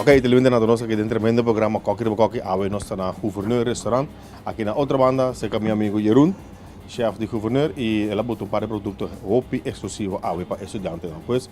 Ok te levanta na donoso den tremendo programa Koki riba Koki. Awe nos ta na Gouverneur Restaurant. Aki na otro banda serka mi amigo Jeroen, chef di Gouverneur y el a butu un par di producto hopi exclusivo awe pa estudiantenan. Pues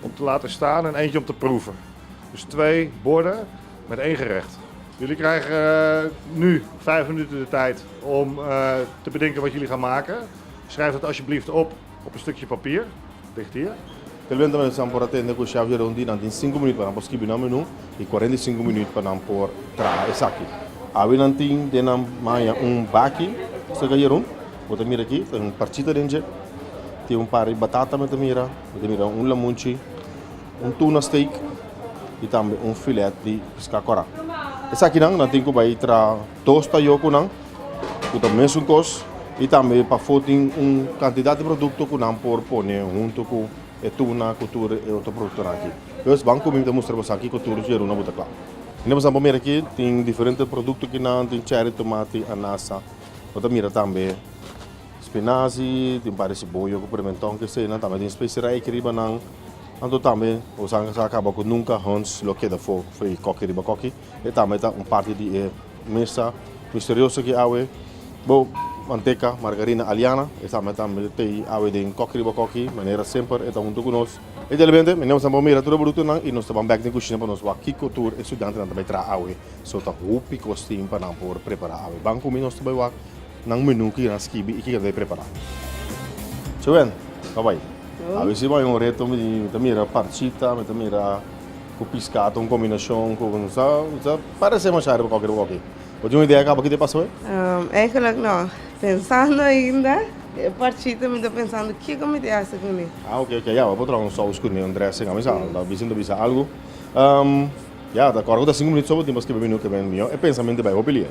Om te laten staan en eentje om te proeven. Dus twee borden met één gerecht. Jullie krijgen nu vijf minuten de tijd om te bedenken wat jullie gaan maken. Schrijf dat alsjeblieft op op een stukje papier. Ligt hier. Telvente nos nan por a tende cu chef Jeroen di nan tin cinco minuut pa nan por skibi nan menu y cuarenta y cinco minuut pa nan por traha esaki. Awe nan tin den nan maña un baki cerca Jeroen. Bo ta mira aki, tin un parchita den dje. Tin un par di batata mi ta mira. Bo ta mira un lamunchi, un tuna steak y tambe un filet di pisca cora. Esakinan nan tin cu bay tra dos tayo cu nan cu ta mesun cos y tambe pafo tin un cantidad di producto cu nan por pone hunto cu e tuna cu tur e otro productonan aki. Pues ban cu mi mi ta mustra boso aki cu tur yeruna bo ta cla. In'e pasan por mira aki tin diferente producto ki nan tin cherry, tomate, anasa. Bo ta mira tambe. Spinazi, tin par di siboyo ku prementon kesenan tambe tin spesi reiki riba nan. Anto tambe nos a sa kaba ku nunka Hans lo keda for for e koki riba koki. E tambe ta un parti di e mesa misterioso ki awe bo manteka, margarina, aliana e tambe ta mete awe den koki riba koki manera semper e ta huntu ku nos. Idealmente mi nos a por mira tur e brutunan i nos ta ban bek den kushina pa nos wak kiko tur e studiantenan ta bai traha awe. So ta hopi kos tin pa nan por prepara awe. Ban ku mi nos ta bai wak. Nan menu ki nan skibi i ki kende prepará. Chewen, ka bai. Awe si bai un reto mi ta mira parchita, mi ta mira ku piskatu un kombinashon ku mi sa sa parese masha riba koke riba koke. Bo tin un idea kaba kiti pasa awe? Eigenlijk no, pensando ainda e parchita mi ta pensando kiko mi di hasi kuni. Ah oke oke ya bo por traha un sous kuni un dressing ami sa lo bisa no bisa algu. Ya ta kòrda ku ta sinku minüt so bo tin pa skiba mi nu kebèn mihó. E pensamentu bai hopi lia.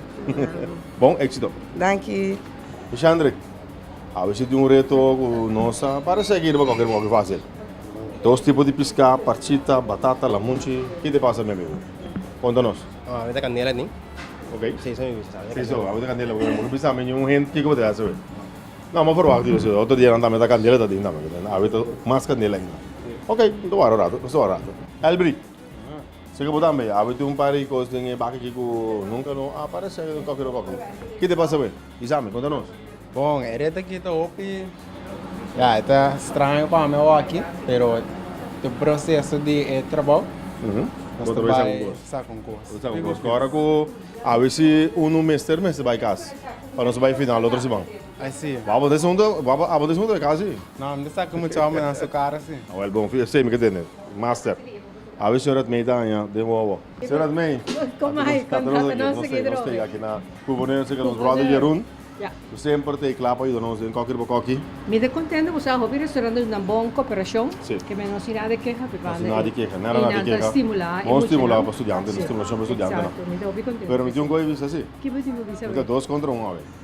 Bon éksito. Danki. E Shandrik, abecé tin un reto ku no sa parese aki riba kòker mihó ki fásil. Dos tipo di piská, parchita, batata, lamunchi. Ki ta pasa mi amigu? Konta nos. Abo ta kanela tin? Ok. Sí, eso mismo. Sí, so abo ta kanela porque amo ta bisa mi un hint kiko bo ta hasi awe. No, amo a proba aki dios. Otro dia nan ta meta kanela ta tin tambe. Awe ta mas kanela ainda. Ok, nan ta wara un ratu. Nos ta wara un ratu. Elbri. Seke bo tambe a witi un par di kos den e baki ki ku nunka no a parasé den koki otro koki. Kit e pasa we? Isami, konta nos. Bon, e reta ki ta hopi, ya, e ta straño pa mi awo aki, pero ta un proseso di e trabou. Bo ta bai sak un kos. Sak un kos. Bo ta sak un kos. Ora ku a wisi unu mester mester bai kas pa nos bai final otro siman. Así. Bo abo ta esun, bo abo ta esun otro kas si? No, mi ta saka mucha hominan su kara si. Awel bon, fi esei mi ke tende. Master, a wi señor Admey ta haña den wowo. Señor Admey, nos brother Jeroen, cu semper ta cla pa yuda nos den koki riba koki. Mi ta contento cu sa hopi restaurante nos na bon cooperacion, ke men no sin nada di keha, no sin nada di keha, nada nada di keha, bon stimula pa studiantenan, stimulacion pa studiantenan, pero mi tin un cosa di bisa si, mi ta dos contra un awe.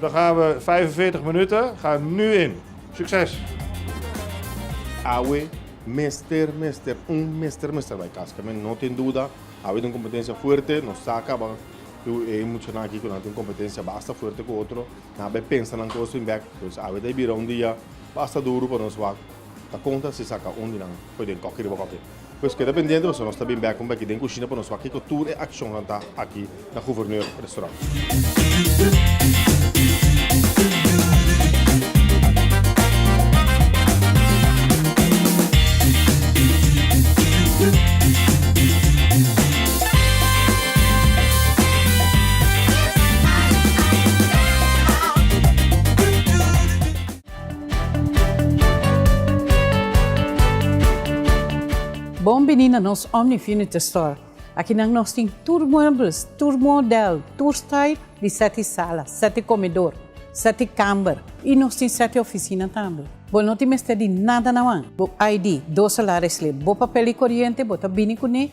Dan gaan we vijfenveertig minuten. Ga nu in. Succes! Awe mester mester un mester mester bay cas camen no tin duda awe tin un competencia fuerte nos sa caba cu e muchanan aki cu nan tin un competencia basta fuerte cu otro nan a bay pensa nan cosa in bek entonces awe ta a bira un dia basta duro pa nos wak ta conta si saca un di nan fo'i den coki riba coki. Pues keda pendiente pasobra nos ta bin bèk kumbayi den kushina pa nos wak kiko tur e akshonnan ta aki na Gouverneur Restaurant. Bon bini na nos Omni Furniture Store. Akinan nos tin tur muebles, tur model, tur style di sete sala, sete comedor, sete kamber y nos tin sete oficina tambe. Bo no tin mester di nada nawan, bo ID, dos salaris slip, bo papel di coriente bo ta bini cune,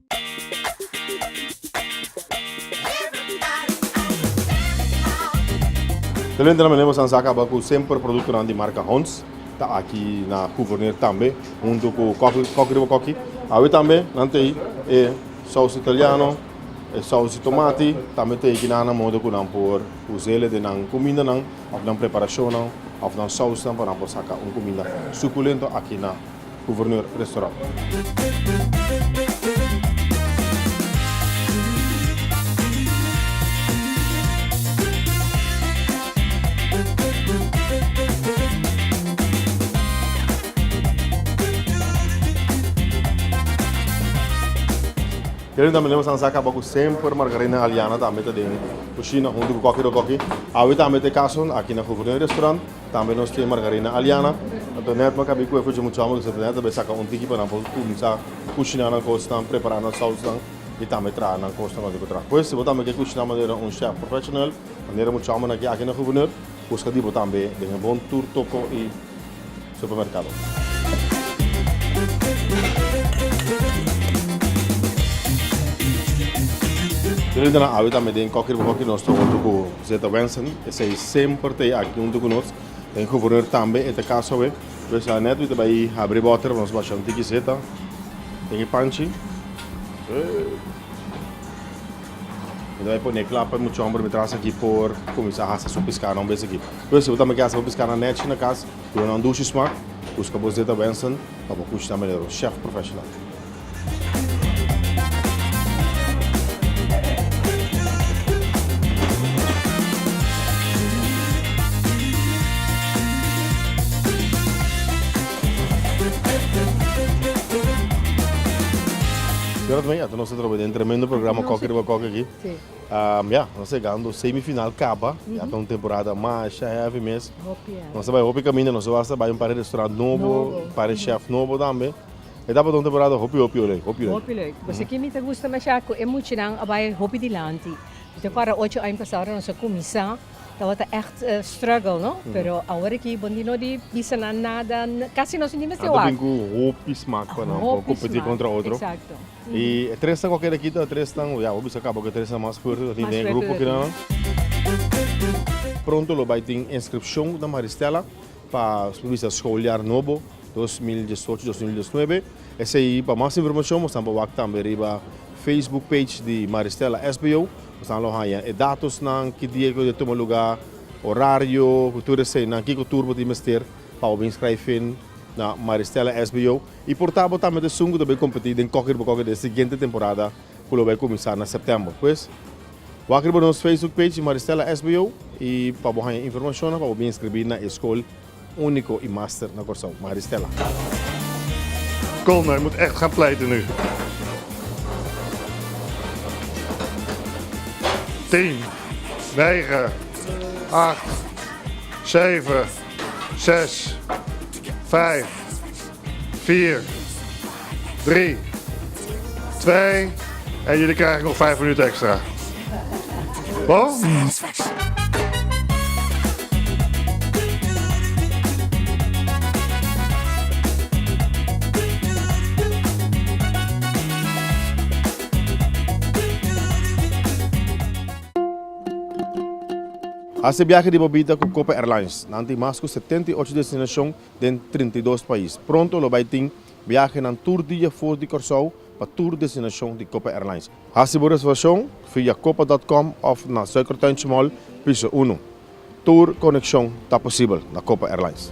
Talente nan manera sa caba cu semper producto nan di marca Honds ta aki na Gouverneur tambe hunto cu Cocky Riba Cocky awe tambe nan tey e saus italiano e saus di tomati tambe tey aki nan modo cu nan por uzel den nan cuminda nan of nan preparacionnan of nan sausnan pa nan por saca un cuminda suculento aki na Gouverneur Restaurant. Kende tambe nos a caba cu semper Margarina Aliana tambe ta den cushina hunto cu Cocky Rococky. Awe tambe ta e caso aki na Gouverneur Restaurant. Tambe nos tin Margarina Aliana, Antoinette m'a kabí ku e kuchi mucha homber ku Antoinette ta bai saka un tiki pa nan por kuminsá kushiná nan kosnan, prepará nan sausnan i tambe traha nan kosnan konta ku traha. Pues si bo tambe ke kushiná manera un chef professional, manera mucha hombernan a ke aki na Gouverneur, buska di bo tambe den e bon tur toko i supermerkado. Yo lo yenta nan awe tambe den koker bo koker nos ta hotu ku. Zeta Wenson, esei semper ta e aki huntu ku nos. Den Guvernur tambe e ta kas awe. Pues anet mi ta bai habri bòter pa nos basha un tiki zeta den e panchi. Mi ta bai pone kla pa e mucha hòmber mi tras aki por kuminsá hasa su piská nan un bes aki. Pues si bo tambe ke hasa bo piská na Nèchi na kas, yu nan dushi smak, buska bo Zeta Wenson. Pa bo kush ta manera un chef profesional. Gerard mei, ata nos ta troba den tremendo programa Kokkie riba Kokkie aki. Ya, nos ta yegando semifinal kaba, ya ta un temporada masha heavy mes. Nos ta bai hopi kaminda, nos wak ta bai un par di restaurant nobo, un par di chef nobo tambe. E tabata un temporada hopi hopi ho lei, hopi lei. Hopi lei. Bo sa ke mi ta gusta masha? Ku e muchanan a bai hopi dilanti. Mi ta akorda ocho aña pasa ora nos a kuminsá, tabata ègt struggle no, pero awor aki bo no di bisa nan nada, kasi nos no tin mester wak. Anto bin ku hopi smak pa nan, pa kompetí kontra otro. Y e tresnan cu a keda kita, e tresnan, ya, bo a bisa caba cu e tresnan mas fuerte, lo tin den e grupo keda nan. Pronto lo bay tin inscripcion na Maristella pa bisa schooljaar nobo, dos mil diesocho, dos mil diesnuebe. Esey pa mas informacion bo stamba wak tambe riba Facebook page di Maristella SBO. Bo stan lo haya e datos nan, ki dia cu ta tuma luga, horario cu tur esey nan, kico tur bo tin mester pa bo bin schrijven na Maristella SBO. I por ta bo tambe ta esun ku ta bai kompetí den kòker riba kòker di e siguiente temporada ku lo bai kuminsá na sèptèmber. Pues, wak riba nos Facebook page di Maristela SBO i pa bo haña informashonnan pa bo bin inskribí na e skol úniko i master na Kòrsou, Maristela. Kom, hij moet echt gaan pleiten nu. Tien, negen, acht, zeven, zes, vijf. vier, drie, twee en jullie krijgen nog vijf minuten extra. Bon? Hasi biahe di bobita ku Copa Airlines. Nan tin mas ku setenta i ocho destinashon den trinta i dos pais. Pronto lo bai tin biahenan tur dia for di Kòrsou pa tur destinashon di Copa Airlines. Hasi bo reservashon via copa dot com òf na Suikertuintje Mall, piso uno. Tur konekshon ta posibel na Copa Airlines.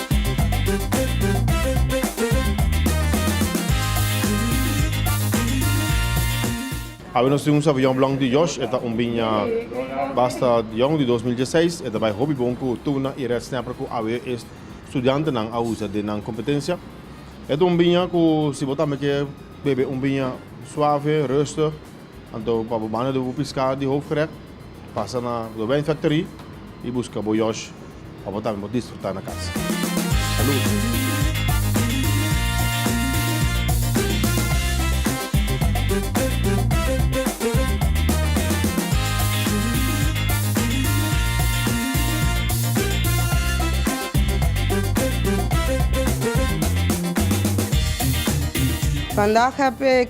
Awe nos tin un sabiyon blòk di Josh, e ta un biña basta yòn di dos mil diesseis. E ta bai hopi bon ku tuna i red snapper ku awe e studiantenan a usa den nan kompetensia. E ta un biña ku si bo tambe ke bebe un biña suave, rustig. Anto pa bo banda di bo piskado di hoofdgerecht, pasa na The Wijn Factory i buska bo yosh pa bo tambe por disfrutá na kas. Salud! Vandag heb ik.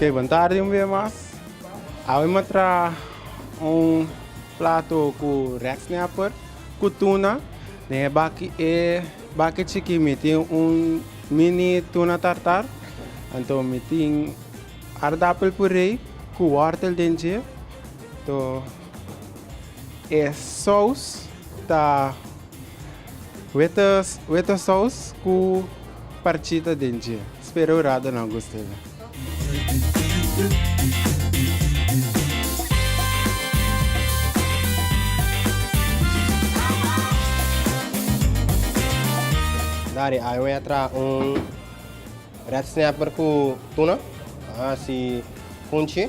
Okey, bon tardi un bes mas. Awe mi a traha un plato ku reksnapper ku tuna. Den e baki e baki chiki mi tin un mini tuna tartar, anto mi tin aardappel puree ku wortel den dje. To e sous ta weta sous ku parchita den dje. Spera un rato nan gusta esa. Dari a wea traha un red snapper ku tuna, si kunchi.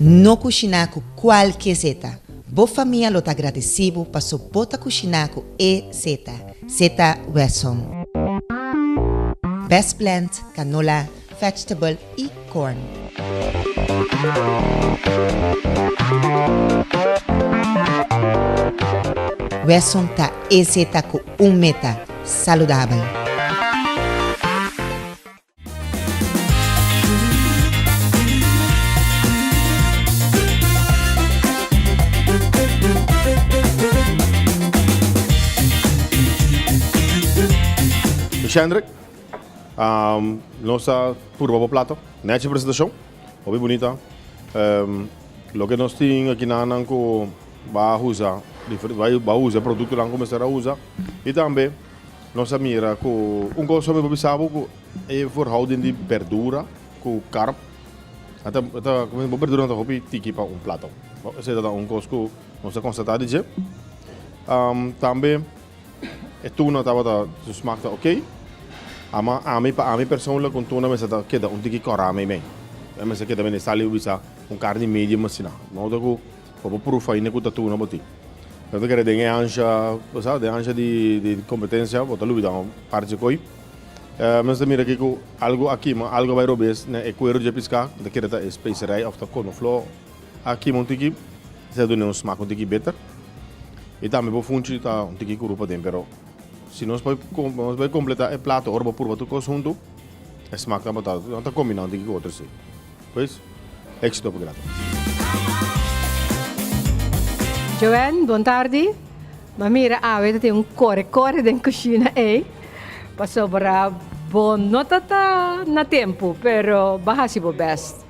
No kushiná ku kualke zeta. Bo famia lo ta gradesí bo paso bo ta kushiná ku e zeta, zeta Wesson. Best plant, canola, vegetable i corn. Wesson ta e zeta ku Un meta saludabel. Shendrik, nos ta purba bo plato. Nechi presentacion. Hopi bunita. Loke nos tin aki nan nan cu. Ba usa ba usa e produktonan ku mester a usa i tambe nos a mira ku un kos hopi papi sabu ku e verhouding di berdura ku karp a ta a ta kòmensá bo berduranan ta hopi tiki pa un plato bo esei ta un kos ku nos ta konstatá di dje tambe e tuna tabata su smak ta ok ama ami pa ami personlik un tuna mester ta keda un tiki kòrá meimei mester keda men e sal i wisa un karni medio masiná de modo ku. Pa bo prufa ainda cu tatunan bo tin. Nan ta kere den e ansha, bo sa, den ansha di, di competencia, bo ta lubida un parchi di koy. Mester ta mira aki cu algo a kima, algo a bai robes na e cuero dje pisca, nan ta kere ta e specerij of ta conoflor a kima un tiki, esey a dun'e un smaak un tiki beter. Y tambe bo funchi ta un tiki curu paden, pero si nos bai nos bai completa e plato ora bo purba tur cos huntu, e smaak ta bota, nan ta combina un tiki cu otro esey. Pues, éxito pa gratis. Joanne, bon tardi. Bo a mira awe ta tin un kore kore den kushina ei. Pasobra bo no ta ta na tempu, pero bo a hasi bo bèst.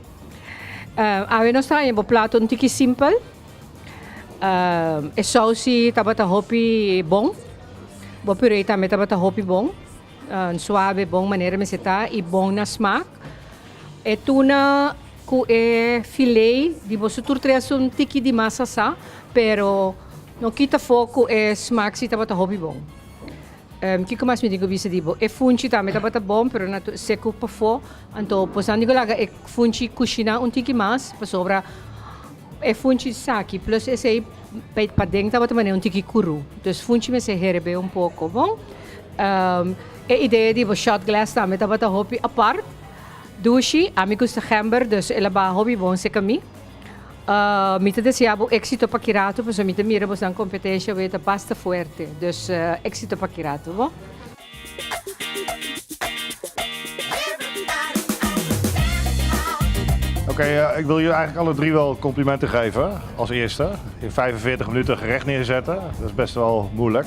Awe nos ta haña bo plato un tiki simpel. E sousi tabata hopi bon. Bo puree tambe tabata hopi bon. Suabe, bon manera mester ta i bon na smak. Isaac. E tuna cu e filé di boso tur tres ta un tiki di mas sasá, pero no kita fo cu e smaksi tabata hopi bon. Ehm, kico mas mi tin cu bisa di bo? E funchi tambe tabata bon, pero nan ta secu pafó. Anto pues nan tin cu laga e funchi cushiná un tiki mas, pasobra e funchi esaki plus esei pa paden tabata manera un tiki curú. Dus funchi mester herbe un poco, bon. Ehm, E idea di bo shot glass tambe tabata hopi apart. Dushi, ami gusta gember, dus el a baha hopi bon cerca mi. Mi ta desea bo exito pa kirato pasobra mi ta mira bosnan competencia wea ta basta fuerte. Dus exito pa kirato bo. Oké, ik wil jullie eigenlijk alle drie wel complimenten geven. Als eerste, in vijfenveertig minuten gerecht neerzetten, dat is best wel moeilijk.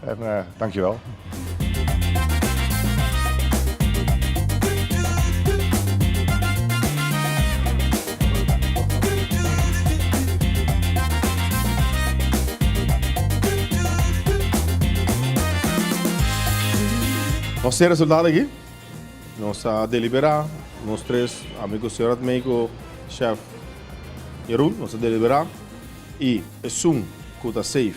En dankjewel. Nos tin resultado aki. Nos a delibera, nos tres, amigo Señor Admeyko, chef Jeroen, nos a delibera y esun cu ta safe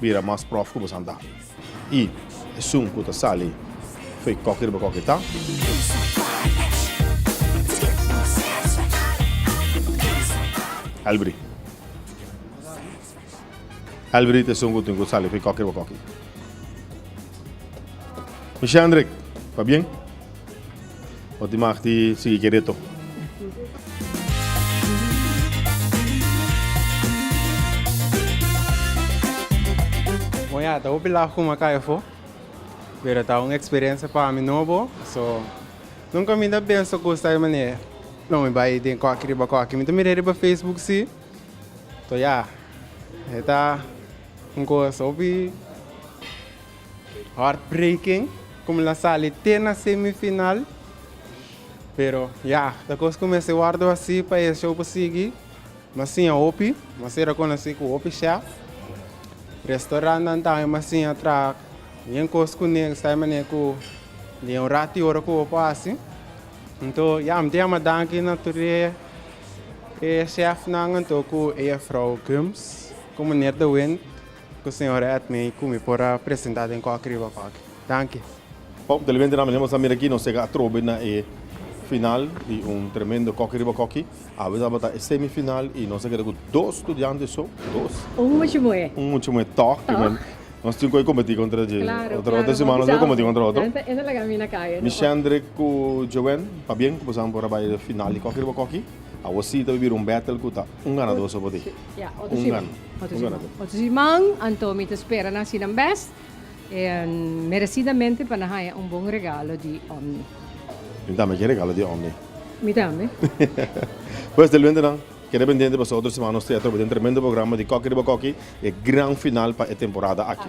Bira mas prof ku bosan ta. I esun ku ta sali foi koki riba koki ta. Elbri. Elbri ta esun ku tin ku sali foi koki riba koki. Mishi Hendrik, pa bien? Ora tin mah di sigui ki reto. Moña, ta hopi laf ku mi a kai afó, pero ta un eksperensia pa mi nobo. So, nunka mi ta pensa kos ta e manera ei. No, mi bai den koki riba koki. Mi ta mira e riba Facebook si, to ya, e ta un kos hopi. Heartbreaking como lo a sali te na semifinal, pero ya, ta cos cu mester wordo así pa e show por sigui. Nos siña hopi, nos ser reconocí cu hopi chef. Restaurannan tambe nos siña traha bien cos cu ne, esai manera cu den un rato y ora cu bo por haci. Anto ya, mi ta yama danki na tur e chefnan anto cu e juffrouw Gums, cu meneer De Wint. Ku señor Edne i ku mi por a presentá den kòk riba kòk. Danki. Bon, telebente nan, manera nos a mira aki, nos sega atrobe na e final di un tremendo kòki riba kòki. Awe tabata e semi final i nos a keda ku dos studiante so, dos. Un muchu muhé. Un muchu muhé tòg. Tòg. Nos tin ku e kompetí kontra dje. Klaro, klaro. Otro siman nos a kompetí kontra otro. Klaro, klaro. Nos a kompetí kontra otro. Esa laga mi na kaya no. Mishendre ku Joen, pabien ku boso nan por a bai final di kòki riba kòki. Awor si ta bira un battle ku ta un ganador so por di. Otro siman, anto mi ta spera nan sinan bes, en merecidamente pa nan haya un bon regalo di Omni. Mi tambe kie regalo di Omni. Mi tambe. Pues del wente nan, keda pendiente pasobra otro siman nos trae atrobe den tremendo programa di Koki riba Koki, e gran final pa e temporada aki.